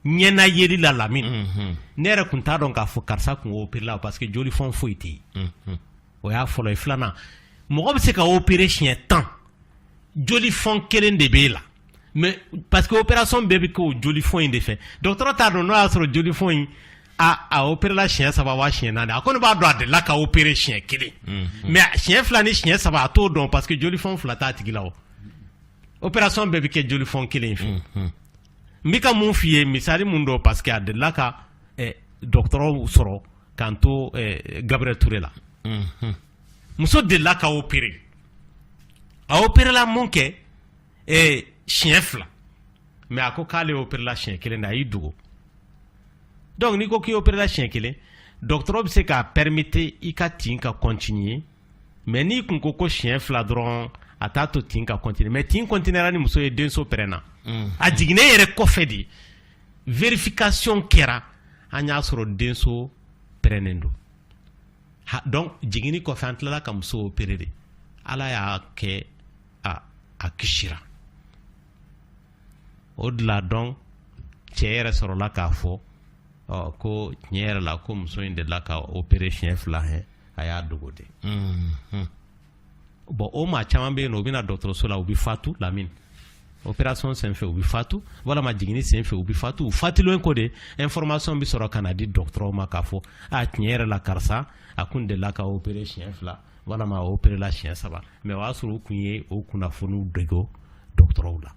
[SPEAKER 4] ɲɛna yeli la Lamini mhm. ne yɛrɛ kun t'a dɔn k'a fɔ karisa kun opérela parce que jolifɔn foyi tɛ yen mhm. o y'a fɔlɔ ye filanan mɔgɔ bɛ se ka opere siɲɛ tan jolifɔn kelen de b'e la mais parce que opération bɛɛ bɛ kɛ o jolifɔn in de fɛ dɔgɔtɔrɔ t'a dɔn n'o y'a sɔrɔ jolifɔn in a a operela siɲɛ saba wa siɲɛ naani a kɔni b'a dɔn a delila ka opere siɲɛ kelen mais siɲɛ fila ni siɲɛ saba a t'o dɔn parce que jolifɔn fila t'a tigi la o opération bɛɛ bɛ kɛ jolifɔn kelen in fɛ n bɛ ka mun f'i ye misali mun don parce que a delila ka eh, dɔgɔtɔrɔw sɔrɔ k'an to eh, Gabriel Toure la mhm. muso delila ka opérer a opérela mun kɛ eh, siɲɛ fila mais a ko k'ale opérela siɲɛ kelen de a y'i dogo donc n'i ko k'i opérela siɲɛ kelen dɔgɔtɔrɔ bɛ se k'a permettre i ka tin ka continuer mais n'i kun ko ko siɲɛ fila dɔrɔn a t'a to tin ka continuer mais tin continuera ni muso ye denso pɛrɛnna mm. a jiginnen yɛrɛ kɔfɛ de vérification kɛra an y'a sɔrɔ denso pɛrɛnnen don donc jiginni kɔfɛ an tilala ka muso opere de Ala y'a kɛ a kisira o de la donc cɛ yɛrɛ sɔrɔla k'a fɔ ɔ ko tiɲɛ yɛrɛ la ko muso in delila ka opere siɲɛ fila hɛn a y'a dogo de mm-hmm. bon o maa caman bɛ yen nɔ u bɛ na dɔgɔtɔrɔso la u bɛ fatu Lamini opération senfɛ u bɛ fatu walama jiginni senfɛ u bɛ fatu u fatulen kɔ de information bɛ sɔrɔ ka na di dɔgɔtɔrɔw ma k'a fɔ a tiɲɛ yɛrɛ la karisa a kun delila ka opere siɲɛ fila walama a operela siɲɛ saba mais o y'a sɔrɔ u kun ye o kunnafoniw dogo dɔgɔtɔrɔw la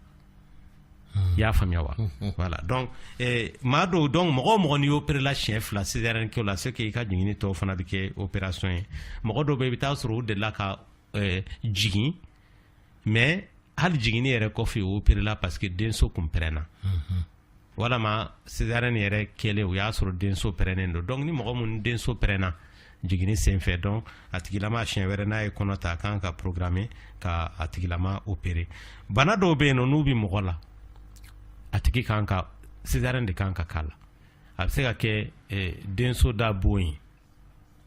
[SPEAKER 4] i y'a faamuya wa voilà donc eh, maa dɔw donc mɔgɔ o mɔgɔ n'i operela siɲɛ fila césarienne kɛ o la c'est que i ka jiginni tɔw fana bɛ kɛ opération ye mɔgɔ dɔw bɛ i bɛ taa sɔrɔ u delila ka eh, jigin mais hali jiginni yɛrɛ kɔfɛ u operela parce que denso kun pɛrɛnna walama césarienne yɛrɛ kɛlen o y'a sɔrɔ denso pɛrɛnnen don donc ni mɔgɔ minnu denso pɛrɛnna jiginni senfɛ donc a tigilama siɲɛ wɛrɛ n'a ye kɔnɔ ta a kan ka programmer ka a tigilama opere bana dɔw bɛ yen nɔ n'u bɛ mɔgɔ la a tigi kan ka césarienne de kan ka k'a la a bɛ se ka kɛ eh, denso da bon ye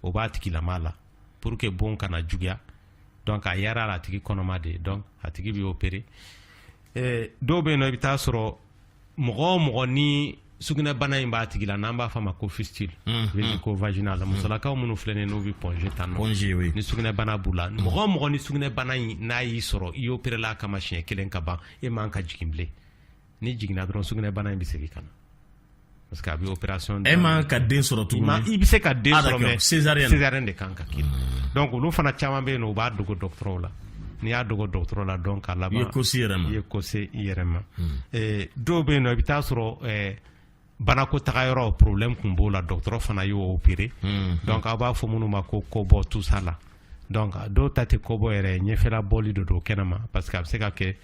[SPEAKER 4] o b'a tigilama la pour que bon kana juguya donc a yɛrɛ la a tigi kɔnɔma de donc a tigi bɛ opere eh, dɔw bɛ yen nɔ i bɛ taa sɔrɔ mɔgɔ o mɔgɔ ni sugunɛbana in b'a tigi la n'an b'a fɔ a ma ko fistule mm, mm. ko vaginal mm. musolakaw minnu filɛ nin n'u bɛ Point G tan nɔ ni sugunɛbana b'u la mɔgɔ o mɔgɔ ni sugunɛbana in n'a y'i sɔrɔ i operela a kama siɲɛ kelen ka ban e man ka jigin bilen n'i jiginna dɔrɔn sugunɛbana in bɛ segin ka na parce que a bɛ opération e man ka den sɔrɔ
[SPEAKER 1] tuguni i bɛ se ka den ah, sɔrɔ
[SPEAKER 4] mais césarienne de kan ka
[SPEAKER 1] k'i la
[SPEAKER 4] hmm. donc olu fana caman bɛ yen nɔ u b'a dogo dɔgɔtɔrɔw la n'i y'a dogo dɔgɔtɔrɔ la donc a laban i ye ko se i yɛrɛ ma i ye
[SPEAKER 1] ko se i yɛrɛ
[SPEAKER 4] ma dɔw bɛ yen nɔ i bɛ taa sɔrɔ Banako taga yɔrɔ problème kun b'o la dɔgɔtɔrɔ fana y'o opere donc a b'a fɔ minnu ma ko kɔbɔ tout ça là donc dɔw ta tɛ kɔbɔ yɛrɛ ɲɛfɛla bɔli de don kɛnɛ ma parce que a bɛ se ka kɛ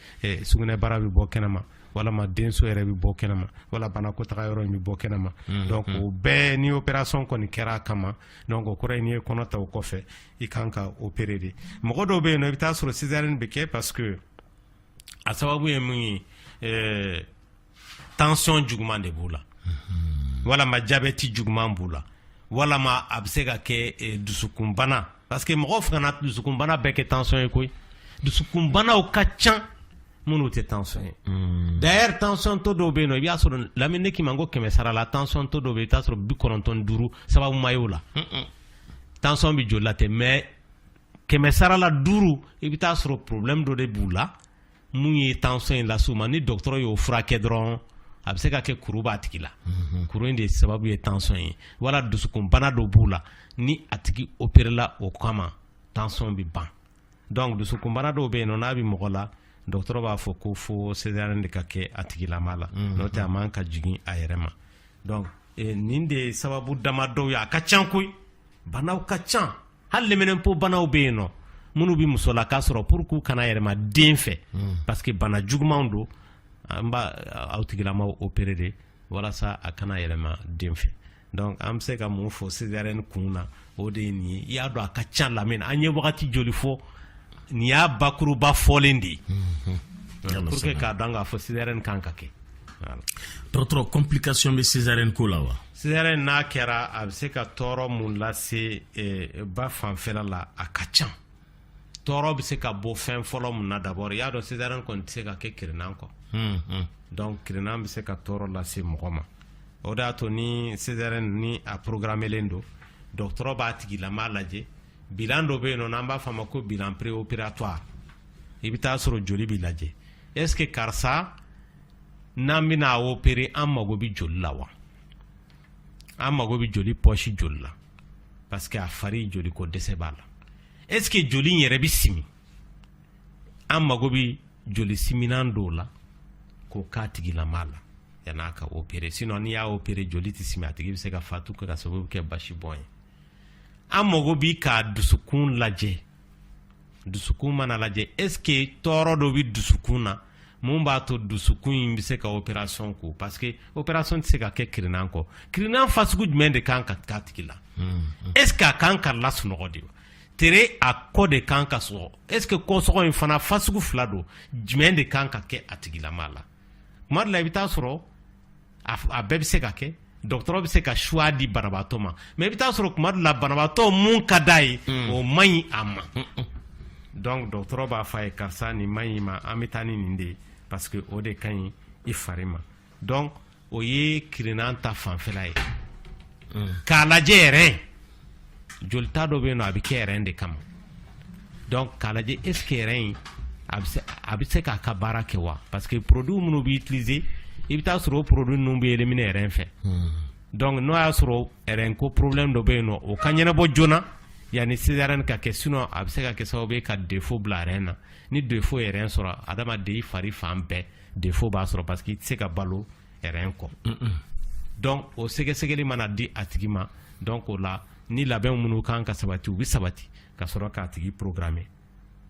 [SPEAKER 4] sugunɛbara bɛ bɔ kɛnɛ ma walama denso yɛrɛ bɛ bɔ kɛnɛ ma wala banako taga yɔrɔ in bɛ bɔ kɛnɛ ma donc o bɛɛ ni opération kɔni kɛra a kama donc o kɔrɔ ye n'i ye kɔnɔ ta o kɔfɛ i kan ka opere de mɔgɔ dɔw bɛ yen nɔ i bɛ taa sɔrɔ césarienne bɛ kɛ parce que a sababu ye mun ye tension juguman de b'u la walama jabɛti juguman b'u la walama a bɛ se ka kɛ eh, dusukunbana parce que mɔgɔw fana kana dusukunbana bɛɛ kɛ tension ye koyi dusukunbanaw ka can minnu tɛ tension ye hmm. d'ailleurs tensiontɔ dɔw bɛ yen nɔ i b'a sɔrɔ Lamine ne k'i ma ko kɛmɛ sara la tensiontɔ dɔw bɛ yen i bɛ t'a sɔrɔ bi kɔnɔntɔn duuru sababu ma ye o la tension bɛ joli la tɛ mais kɛmɛ sara la duuru i bɛ t'a sɔrɔ problème dɔ de b'u la min ye tension in las'u ma ni dɔgɔtɔrɔ y'o furakɛ dɔrɔn a bɛ se ka kɛ kuru b'a tigi la mhm. kuru in de sababu ye tension ye wala dusukunbana dɔ b'u la ni a tigi operela o kama tension bɛ ban donc dusukunbana dɔw bɛ yen nɔ n'a bɛ mɔgɔ la dɔgɔtɔrɔ b'a fɔ ko fo césarienne de ka kɛ a tigilama la mhm. n'o tɛ a man ka jigin a yɛrɛ ma donc eh, nin de ye sababu dama dɔw ye a ka ca koyi banaw ka ca hali lɛminɛnpo banaw bɛ yen nɔ minnu bɛ musolaka sɔrɔ pour k'u kana yɛlɛma den fɛ hmm. parce que bana jugumanw don an b'a aw tigilamaw opérer de walasa a kana yɛlɛma den fɛ donc an bɛ se ka mun fɔ césarienne kun na o de ye nin ye i y'a dɔn a ka ca Lamine an ye wagati joli fɔ nin y'a bakuruba fɔlen de ye hmm. pour que k'a dɔn k'a fɔ césarienne kan ka kɛ dɔgɔtɔrɔ
[SPEAKER 1] complication bɛ césarienne ko la wa Césarienne n'a
[SPEAKER 4] kɛra a bɛ se ka tɔɔrɔ mun lase ba fanfɛla la a ka ca tɔɔrɔ bɛ se ka bɔ fɛn fɔlɔ mun na d'abord i y'a dɔn césarienne kɔni tɛ se ka kɛ kirinnan kɔ donc kirinnan bɛ se ka tɔɔrɔ lase mɔgɔ ma o de y'a to ni césarienne ni a programmelen don dɔgɔtɔrɔ b'a tigilama lajɛ bilan dɔ bɛ yen nɔ n'an b'a fɔ a ma ko bilan préopératoire i bɛ taa sɔrɔ joli bɛ lajɛ est ce que karisa n'an bɛna a opérer an mago bɛ joli la wa an mago bɛ joli pɔsi joli la parce que a fari joli ko dɛsɛ b'a la est ce que joli in yɛrɛ bɛ simi an mago bɛ joli siminan dɔw la k'o k'a tigilama la yan'a ka opérer sinon n'i y'a opérer joli tɛ simi a tigi bɛ se ka fatu ka sababu kɛ basibɔn ye an mago bi ka dusukun lajɛ dusukun mana lajɛ est ce que tɔɔrɔ dɔ bɛ dusukun na mun b'a to dusukun in bɛ se ka opération ku parce que opération tɛ se ka kɛ kirinan kɔ kirinan fasugu jumɛn de kan ka k'a tigi la est ce que a kan ka lasunɔgɔ de wa tere a kɔ de kan ka sɔgɔ est ce que kɔsɔgɔ in fana fasugu fila don jumɛn de kan ka kɛ a tigilama la kuma dɔ la i bɛ taa sɔrɔ a bɛɛ bɛ se ka kɛ dɔgɔtɔrɔ bɛ se ka choix di banabaatɔ ma mais i bɛ taa sɔrɔ kuma dɔ la banabaatɔ mun ka d'a ye mm. o man ɲi a ma mm, mm. donc dɔgɔtɔrɔ b'a fɔ a ye karisa nin man ɲ'i ma an bɛ taa ni nin de ye parce que o de ka ɲi i fari ma donc o ye kirinnan ta fanfɛla ye k'a lajɛ yɛrɛ jolita dɔ bɛ yen nɔ a bɛ kɛ rein de kama donc k'a lajɛ est ce que rein in a bɛ se k'a ka baara kɛ wa parce que produit minnu bɛ utiliser i bɛ taa sɔrɔ o produit ninnu bɛ éliminer rein fɛ hmm. donc n'o y'a sɔrɔ rein ko problème dɔ bɛ yen nɔ o ka ɲɛnabɔ joona yanni césarienne ka kɛ sinon a bɛ se ka kɛ sababu ye ka défaut bila rein na ni défaut ye rein sɔrɔ adamaden i fari fan bɛɛ défaut b'a sɔrɔ parce que i tɛ se ka balo rein kɔ donc o sɛgɛsɛgɛli mana di a tigi ma donc o la ni labɛn minnu kan ka sabati u bɛ sabati ka sɔrɔ k'a tigi programmer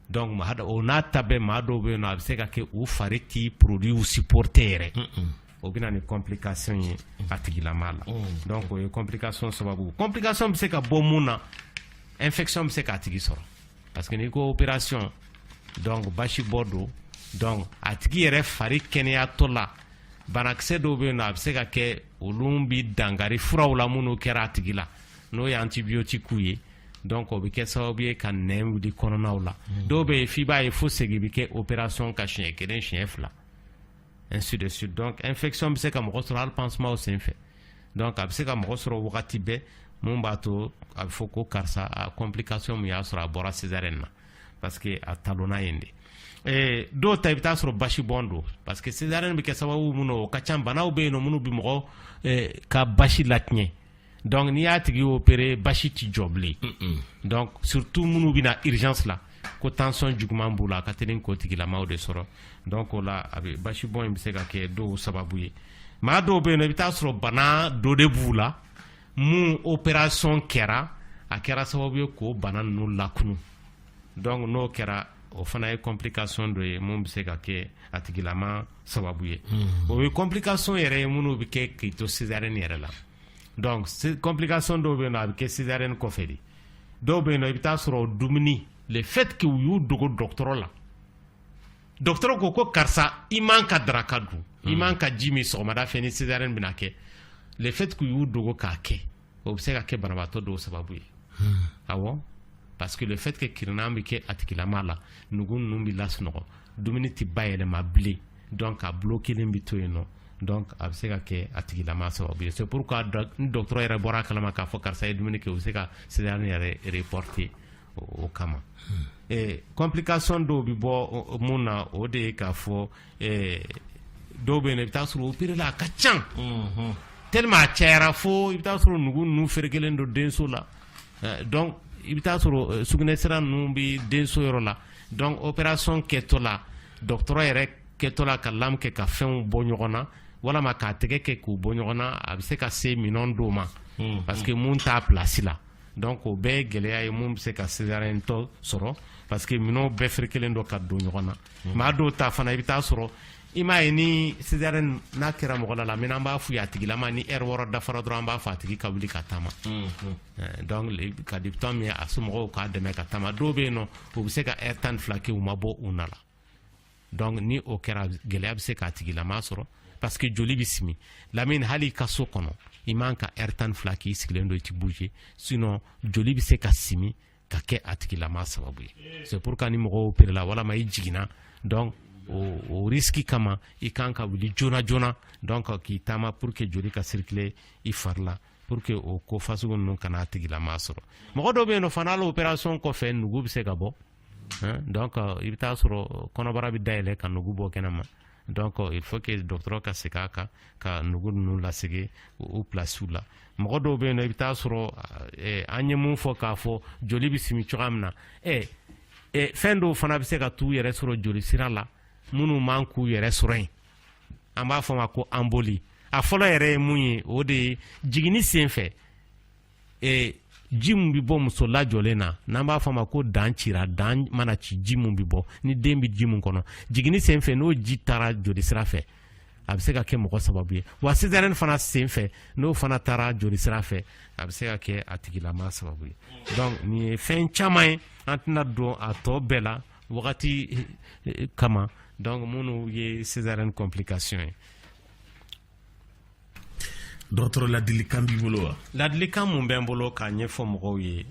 [SPEAKER 4] donc o n'a ta bɛɛ maa dɔw bɛ yen nɔ a bɛ se ka kɛ u fari tɛ produitw supporter yɛrɛ o bɛ na ni complication ye a tigilama la donc o ye complication sababu complication bɛ se ka bɔ mun na infection bɛ se k'a tigi sɔrɔ parce que n'i ko opération donc basi bɔ don donc a tigi yɛrɛ fari kɛnɛyatɔ la banakisɛ dɔw bɛ yen nɔ a bɛ se ka kɛ olu bi dangari furaw la minnu kɛra a tigi la n'o ye antibiyotiki ye donc o bɛ kɛ sababu ye ka nɛn wuli kɔnɔnaw la hmm. dɔw bɛ yen f'i b'a ye fo segin bɛ kɛ opération kan siɲɛ kelen siɲɛ fila ainsi de suite donc infection bɛ se ka mɔgɔ sɔrɔ hali pansementw senfɛ donc a bɛ se ka mɔgɔ sɔrɔ wagati bɛɛ mun b'a to a bɛ fɔ ko karisa a complication mun y'a sɔrɔ a bɔra césarienne na parce que a talonna yen de eh, dɔw ta i bɛ taa sɔrɔ basi bɔn don parce que césarienne bɛ kɛ sababu mun na o ka ca banaw bɛ yen nɔ minnu bɛ mɔgɔ eh, ka basi latiɲɛ donc n'i y'a tigi opéré basi tɛ jɔ bilen donc surtout minnu bɛ na urgence la ko tension juguman b'u la a ka teli k'o tigilamaw de sɔrɔ donc o la a bɛ basi bɔn in bɛ se ka kɛ dɔw sababu ye maa dɔw bɛ yen i bɛ taa sɔrɔ bana dɔ de b'u la mun opération kɛra a kɛra sababu ye k'o bana ninnu lakunun donc n'o kɛra o fana ye complication dɔ ye mun bɛ se ka kɛ a tigilama sababu ye o ye complication yɛrɛ ye minnu bɛ kɛ k'i to césarienne yɛrɛ la donc complication dɔw bɛ yen nɔ a bɛ kɛ césarienne kɔfɛ de dɔw bɛ yen nɔ i bɛ taa sɔrɔ dumuni le fait que u y'u dogo dɔgɔtɔrɔ la dɔgɔtɔrɔ ko ko karisa i man ka daraka dun i man ka ji min sɔgɔmada fɛ ni césarienne bɛna kɛ le fait que u y'u dogo k'a kɛ o bɛ se ka kɛ banabaatɔ dɔw sababu ye awɔ parce que le fait que kirinan bɛ kɛ a tigilama la nugu ninnu bɛ lasunɔgɔ dumuni tɛ bayɛlɛma bilen donc a bulokelen bɛ to yen nɔ donc a bɛ se ka kɛ a tigilama sababu ye c'est pourquoi ni dɔgɔtɔrɔ yɛrɛ bɔra a kalama k'a fɔ karisa ye dumuni kɛ u bɛ se ka césarienne yɛrɛ reporter o kama hmm. eh, complication dɔw bɛ bɔ mun na o de ye k'a fɔ eh, dɔw bɛ yen i bɛ taa sɔrɔ opéréla a ka ca hmm. tellement a cayara fo i bɛ taa sɔrɔ nugu ninnu ferekelen don denso la eh, donc i bɛ taa sɔrɔ sugunɛsira ninnu bɛ denso yɔrɔ la donc opération kɛtɔ la Dɔgɔtɔrɔ yɛrɛ kɛtɔ la ka lame kɛ ka fɛnw bɔ ɲɔgɔn na walama k'a tɛgɛ kɛ k'u bɔ ɲɔgɔn na a bɛ se ka se minɛn dɔw ma parce que mun t'a place la donc o bɛɛ gɛlɛya ye mun bɛ se ka césariennetɔ sɔrɔ parce que minɛnw bɛɛ ferekelen don ka don ɲɔgɔn na maa dɔw ta fana i bɛ taa sɔrɔ i m'a ye ni césarienne n'a kɛra mɔgɔ la la min an b'a fɔ a tigilama ni heure wɔɔrɔ dafara dɔrɔn an b'a fɔ a tigi ka wuli ka taama ka di min a somɔgɔw k'a dɛmɛ ka taama dɔw bɛ yen nɔ u bɛ se ka heure tan fila kɛ u ma bɔ u na la donc ni o kɛra gɛlɛya bɛ se k'a tigilama sɔrɔ parce que joli bɛ simi lamini hali i ka so kɔnɔ i man ka heure tan fila k'i sigilen don i ti bouger sinon joli bɛ se ka simi ka kɛ a tigilama sababu ye c'est pourquoi ni mɔgɔ opéréla walama i jiginna donc o, o riski kama i kan ka wuli joona joona donc k'i taama pour que joli ka circuler i fari la pour que o ko fasugu ninnu kana a tigilama sɔrɔ mɔgɔ dɔw bɛ yen nɔ fana hali opération kɔfɛ nugu bɛ se ka bɔ donc i bɛ taa sɔrɔ kɔnɔbara bɛ dayɛlɛ ka nugu bɔ kɛnɛma donc il faut que dɔgɔtɔrɔ ka segin a kan ka nugu ninnu lasegin u pilasiw la mɔgɔ dɔw bɛ yen nɔ i bɛ taa sɔrɔ eh, an ye mun fɔ k'a fɔ joli bɛ simi cogoya min na ɛ fɛn dɔw fana bɛ se ka t'u yɛrɛ sɔrɔ joli sira la minnu man k'u yɛrɛ sɔrɔ yen an b'a fɔ ma ko embolie a fɔlɔ yɛrɛ ye mun ye o de ye jiginni sen fɛ e, ji min bɛ bɔ muso lajɔlen na n'an b'a fɔ ma ko dan cira dan mana ci ji min bɛ bɔ ni den bɛ ji min kɔnɔ jiginni sen fɛ n'o ji taara jolisira fɛ a bɛ se ka kɛ mɔgɔ sababu ye wa césarienne fana sen fɛ n'o fana taara jolisira fɛ a bɛ se ka kɛ a tigilama sababu ye donc nin ye fɛn caman ye an tɛna don a tɔ bɛɛ la wagati eh, kama donc minnu ye césarienne complication
[SPEAKER 1] ye dɔgɔtɔrɔ ladilikan b'i bolo wa ladilikan mun bɛ n bolo
[SPEAKER 4] k'a ɲɛfɔ mɔgɔw ye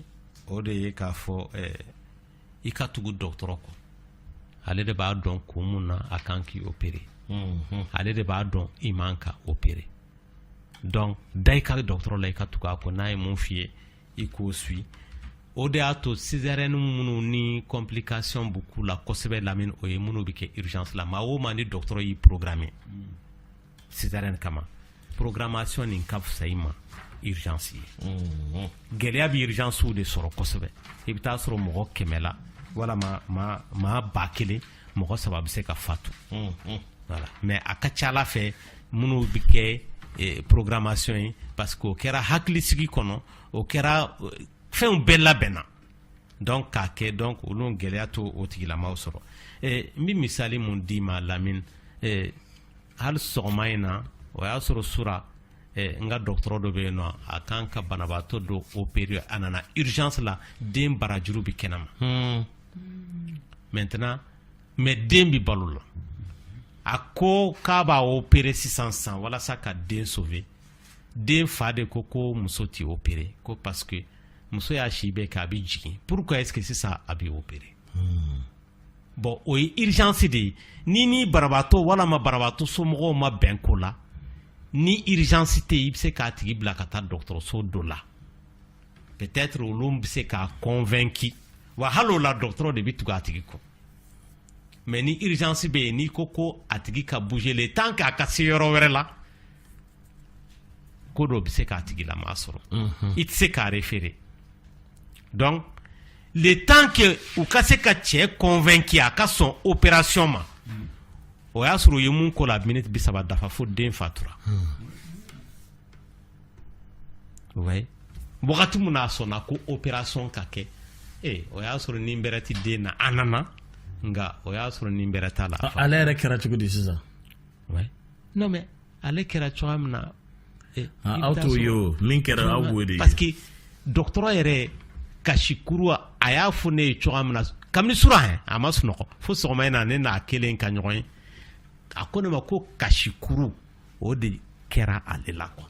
[SPEAKER 4] o de ye k'a fɔ eh, i ka tugu dɔgɔtɔrɔ kɔ ale de b'a dɔn kun mun na a kan k'i opérer mhm. ale de b'a dɔn i man ka opérer donc da i ka dɔgɔtɔrɔ la i ka tugu a kɔ n'a ye mun f'i ye i k'o suivre o de y'a to césarienne minnu ni complication b'u ku la kosɛbɛ Lamine o ye minnu bɛ kɛ urgence la maa o maa ni dɔgɔtɔrɔ y'i programmer césarienne kama programmation nin ka fisa i ma urgence ye gɛlɛya bɛ urgencew de sɔrɔ kosɛbɛ i bɛ taa sɔrɔ mɔgɔ kɛmɛ la walima maa ba kelen mɔgɔ saba bɛ se ka fatu voilà mais a ka ca a la fɛn minnu bɛ kɛ eh, programmation ye parce que o kɛra hakilisigi kɔnɔ o kɛra eh, fɛnw bɛɛ labɛnna donc k'a kɛ donc olu gɛlɛya t'o tigilamaw sɔrɔ eh, n bɛ misali mun d'i ma Lamine hali sɔgɔma in na o y'a sɔrɔ sura n ka dɔgɔtɔrɔ dɔ bɛ yen nɔ a kan ka banabaatɔ dɔ opérer a nana urgence la den barajuru bɛ kɛnɛma maintenant mais den bɛ balo la a ko k'a b'a opérer sisan san walasa ka den sauver den fa de ko ko muso tɛ opérer ko parce que muso y'a si bɛɛ kɛ a bɛ jigin pourquoi est-ce que sisan a bɛ opérer Bon o ye urgence de ye ni ni banabaatɔ walima banabaatɔ somɔgɔw ma bɛn ko la ni urgence tɛ i bɛ se k'a tigi bila ka taa dɔgɔtɔrɔso dɔ la peut-être olu bɛ se k'a convaincre wa hali o la dɔgɔtɔrɔ de bɛ tugu a tigi kɔ mais ni urgence bɛ yen n'i ko ko a tigi ka bouger le temps k'a ka se yɔrɔ wɛrɛ la ko dɔ bɛ se k'a tigilamaa sɔrɔ mhm. i tɛ se k'a référer donc le temps que u ka se ka cɛ convaincre a ka sɔn opération ma o y'a sɔrɔ u ye mun ko la minute bi saba dafa fo den fatura ouais wagati mun n'a sɔnna ko opération ka kɛ ee o y'a sɔrɔ ni bɛrɛ ti den na a nana nka o y'a sɔrɔ ni bɛrɛ t'a la ale yɛrɛ kɛra cogo di
[SPEAKER 1] sisan
[SPEAKER 4] mais ale kɛra cogoya min na eh, aw
[SPEAKER 1] t'o ye o min kɛra aw b'o de ye parce que
[SPEAKER 4] dɔgɔtɔrɔ yɛrɛ kasikuru a y'a fɔ ne ye cogoya min na kabini surɔ a ma sunɔgɔ fo sɔgɔma in na ne n'a kelen ka ɲɔgɔn ye a ko ne ma ko kasikuru o de kɛra ale la quoi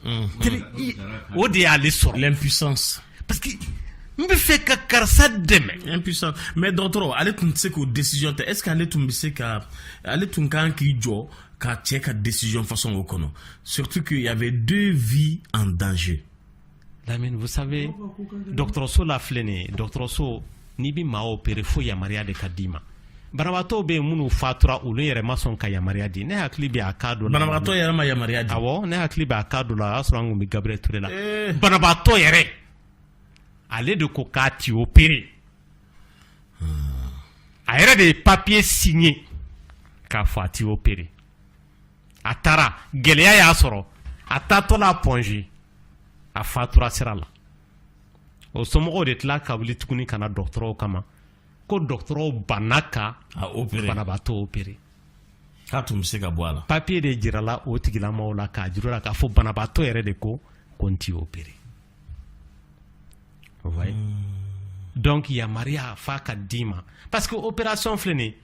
[SPEAKER 4] o de y'ale sɔrɔ
[SPEAKER 1] parce
[SPEAKER 4] que n bɛ fɛ ka karisa dɛmɛ. impuissance mais
[SPEAKER 1] dɔgɔtɔrɔ ale tun tɛ se k'o décision ta est ce que ale tun bɛ se ka ale tun ka kan k'i jɔ ka cɛ ka décision façon o kɔnɔ surtout qu'il y avait deux vies en danger. lamine
[SPEAKER 4] vous savez dɔgɔtɔrɔso la filɛ nin ye dɔgɔtɔrɔso. n'i bɛ maa opérer fo yamaruya de ka d'i ma banabagatɔw bɛ yen minnu fatura olu yɛrɛ ma sɔn ka yamaruya di ne hakili bɛ a cas dɔ la banabagatɔ yɛrɛ ma yamaruya di
[SPEAKER 1] awɔ ne hakili bɛ a
[SPEAKER 4] cas dɔ la o y'a sɔrɔ an tun bɛ Gabriel Touré la eh. banabagatɔ yɛrɛ ale de ko k'a ti opérer a yɛrɛ de ye papiye signé k'a fɔ a ti opérer a taara gɛlɛya y'a sɔrɔ a taatɔ la Point G a fatura sira la o somɔgɔw de tila ka wuli tuguni ka na dɔgɔtɔrɔw kama ko dɔgɔtɔrɔw banna ka banabaatɔ opérer k'a tun
[SPEAKER 1] bɛ se ka bɔ a la papiye de jirala o
[SPEAKER 4] tigilamɔgɔw la k'a jira u la k'a fɔ banabaatɔ yɛrɛ de ko ko n ti opérer hmm. donc yamaruya f'a ka d'i ma parce que opération filɛ nin ye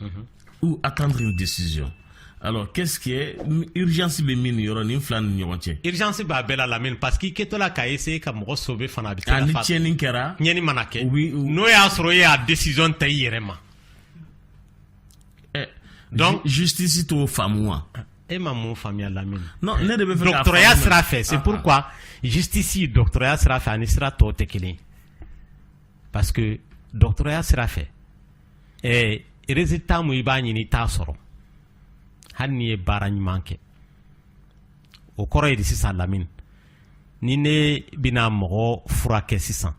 [SPEAKER 1] mhm. ou attendre une décision alors qu'est-ce qui est urgence bɛ min yɔrɔ nin fila ni ɲɔgɔn cɛ urgence b'a bɛɛ la
[SPEAKER 4] lamini parce que i kɛtɔ la ka essayer ka mɔgɔ sauver fana a bɛ se ka ni tiɲɛni kɛra
[SPEAKER 1] tiɲɛni mana kɛ
[SPEAKER 4] n'o y'a sɔrɔ e y'a décision ta i yɛrɛ ma
[SPEAKER 1] eh, donc justice t'o faamu wa e ma mun
[SPEAKER 4] faamuya lamini non ne de bɛ fɛ
[SPEAKER 1] ka dɔgɔtɔrɔya sira fɛ c'est ah, ah.
[SPEAKER 4] pourquoi justice dɔgɔtɔrɔya sira fɛ ani sira tɔw tɛ kelen parce que dɔgɔtɔrɔya sira fɛ ɛɛ résultat mun i b'a ɲini i t'a sɔrɔ hali n'i ye baara ɲuman kɛ o kɔrɔ ye de sisan lamini ni ne bɛna mɔgɔ furakɛ sisan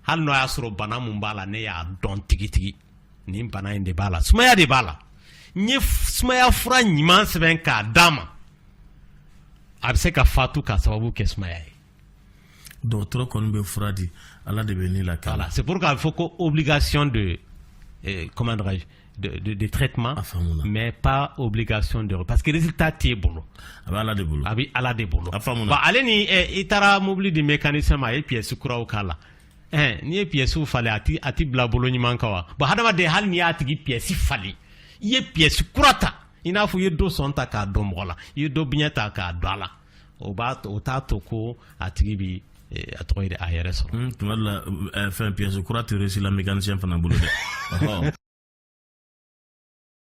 [SPEAKER 4] hali n'o y'a sɔrɔ bana mun b'a la ne y'a dɔn tigitigi nin bana in de b'a la sumaya de b'a la n ye sumaya fura ɲuman sɛbɛn k'a d'a ma a bɛ se ka fatu k'a sababu kɛ sumaya ye
[SPEAKER 1] dɔgɔtɔrɔ kɔni bɛ fura di ala de bɛ nɛɛma k'a la c'est pourquoi a fɔ
[SPEAKER 4] ko obligation de eh, comment dirais-je de, de, de traitement mais pas obligation de parce que résultat t'e bolo a bɛ ala de bolo
[SPEAKER 1] a bɛ ala de bolo a
[SPEAKER 4] faamuna bon ale
[SPEAKER 1] ni eh,
[SPEAKER 4] i taara mobili di mécanicien ma a ye pièce kuraw k'a la eh, n'i ye pièce falen a ti a ti bila bolo ɲuman kan wa bon hadamaden hali n'i y'a tigi pièce falen i ye pièce kura ta i n'a fɔ i ye dɔ sɔn ta k'a don mɔgɔ la i ye dɔ biɲɛ ta k'a don a la o b'a o t'a to ko a tigi bɛ a tɔgɔ de a yɛrɛ
[SPEAKER 1] sɔrɔ tuma
[SPEAKER 4] dɔ la
[SPEAKER 1] fɛn pièce kura tɛ réussi la mécanicien fana bolo dɛ